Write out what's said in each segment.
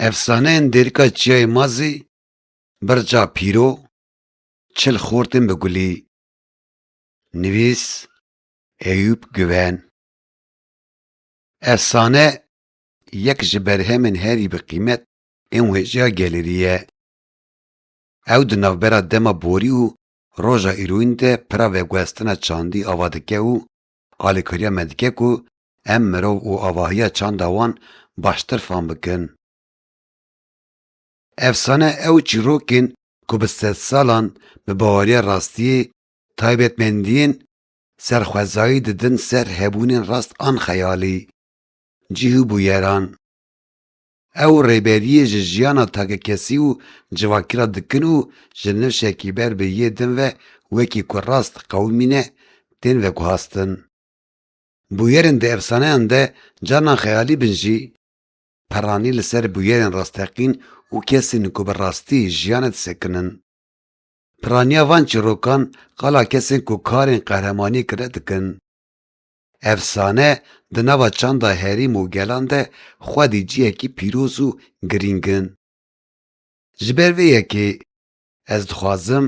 Efsaneyên Dêrika Çiyayê Mazî Birca Pîro Çil xortên bi gulî Nivîs Eyûp Guven Efsane yek ji berhemên herî bi qîmet ên wêjeya gelêrî ye. Ew di navbera dema borî û roja îroyîn de pira veguhestina çandî ava dike û Alîkariya me dike ku em mirov û avahiya çanda wan baştir fam bikin. Efsane ew çîrok in ku bi sedsalan bi baweriya rastiyê taybetmendiyên serxwezayî didin ser hebûnên rast an xeyalî, cih û bûyeran. Ew rêberiyê ji jiyana takekesî û civakî re dikin û ji nifşekî ber bi yê din ve wekî ku rast diqewimîne tên veguhastin. Bûyerên di efsaneyan de carna xeyalî bin jî, peranî li ser bûyerên rasteqîn û kesên ku bi rastî jiyane disekin in. Piraniya van çîrokan qala kesên ku karên qehremaniyê kirine dikin. Efsane di nava çanda herîm û gelan de xwedî cihekî pîroz û girîng in. Ji ber vê yekê ez dixwazim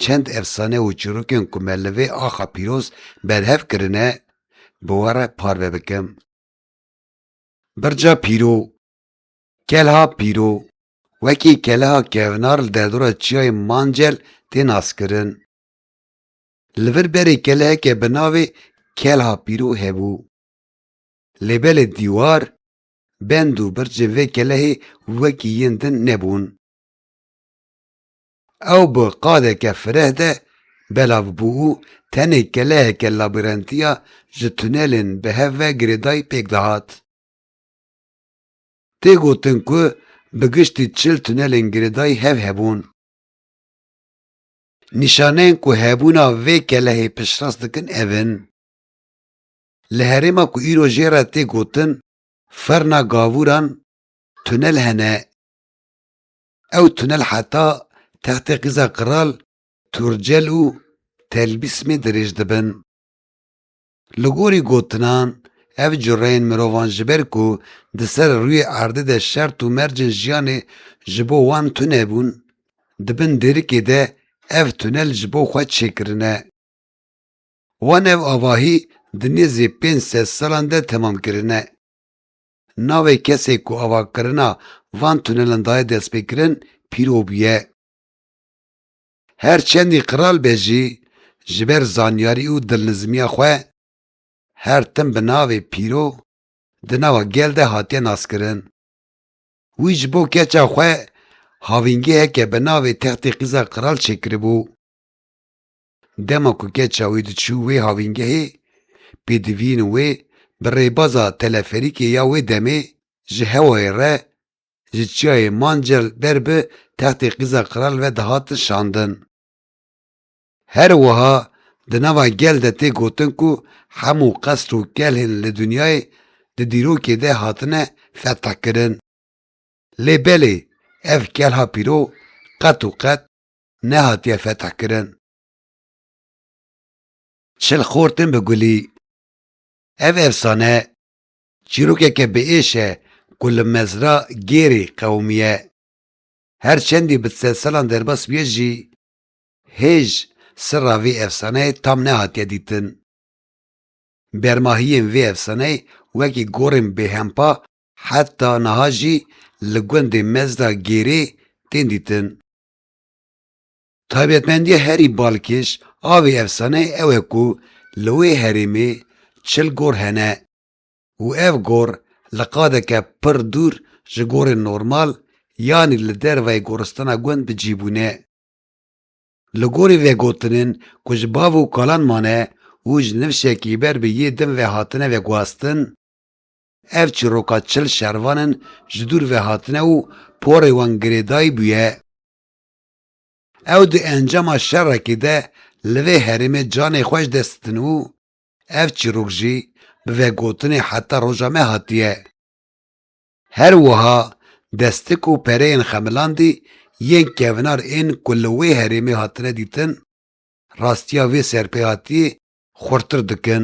çend efsane û çîrokên ku me li vê axa pîroz berhev kirine bi we re parve bikim. Birca Pîro Kelha Pîro wekî keleha kevnar li derdora çiyayê Mancel tê naskirin. Li vir berê keleyeke bi navê Kelha Pîro hebû. Lê belê dîwar, bend û birçên vê kelehê wekî yên din nebûn. Ew bi qadeke fireh de belav bû û tenê keleheke labirentiya ji tunelên bi hev ve girêdayî pêk dihat. Tê gotin ku bi giştî çil tunelên girêdayî hev hebûn. Nîşaneyên ku hebûna vê kelehê piştrast dikin ev in, Li herêma ku îro jê re tê gotin Ferna Gavûran tunel hene. Ew tunel heta Textê Qîza Qiral, Turcel û Telbîsmê dirêj dibin. Li gorî gotinan, ev cureyên mirovan ji ber ku di ser rûyê erdê de şert û mercên jiyanê ji bo wan tune bûn, di bin dêrikê de ev tunel ji bo xwe çêkirine. Wan ev avahî di nêzî pênc sed salan de temam kirine. Navê kesê ku avakirina van tunelan daye destpêkirin pîro bûye. Her çendî qral be jî ji ber zanyarî û dilnizmiya xwe her tim bi navê Pîro di nava gel de hatiye naskirin. Wî ji bo keça xwe havîngeheke bi navê Textê Qîza Qral çêkiribû. Dema ku keça wî diçû wê havîngehê pêdivîn û wê bi rêbaza teleferîkê ya wê demê ji hewayê re ji çiyayê Mancel derbi textê qîza qral ve dihatin şandin. Her wiha di nava gel de tê gotin ku hemû qesr û kelhên li dinyayê di dîrokê de hatine fethkirin. Lê belê ev kelha pîro qet û qet nehatiye fethkirin. Çil xortin bi gulî. Ev efsane Çîrokeke biêş e ku li mezra gêrê qewimî ye. Her çendî bi sed salan derbas bûye jî hêj sirra vê efsaneyê tam nehatiye dîtin. Bermahiyên vê efsaneyê wekî gorên bêhempa heta niha jî li gundê mezra gêrê tên dîtin. Taybetmendiya herî balkêş a vê efsaneyê ew e ku li wê herêmê çil gor hene û ev gor li qadeke pir dûr ji gorên normal yanî li dervayê goristana gund bi cî bûne. Li gorî vegotinên ku ji bav û kalan mane û ji nifşekî ber bi yê din ve hatine vegwastin, ev çiroka çil şervanin ji dûr ve hatine û porê wan girêdayî bûye. Ew di encama şerekî de li vê herêmê canê xwe ji dest din û ev çîrok jî bi vegotinê heta roja me hatiye. Her wiha destik û pereyên xemilandî yên kevnar ên ku li wê herêmê hatine dîtin, rastiya vê serpêhatiyê xurtir dikin.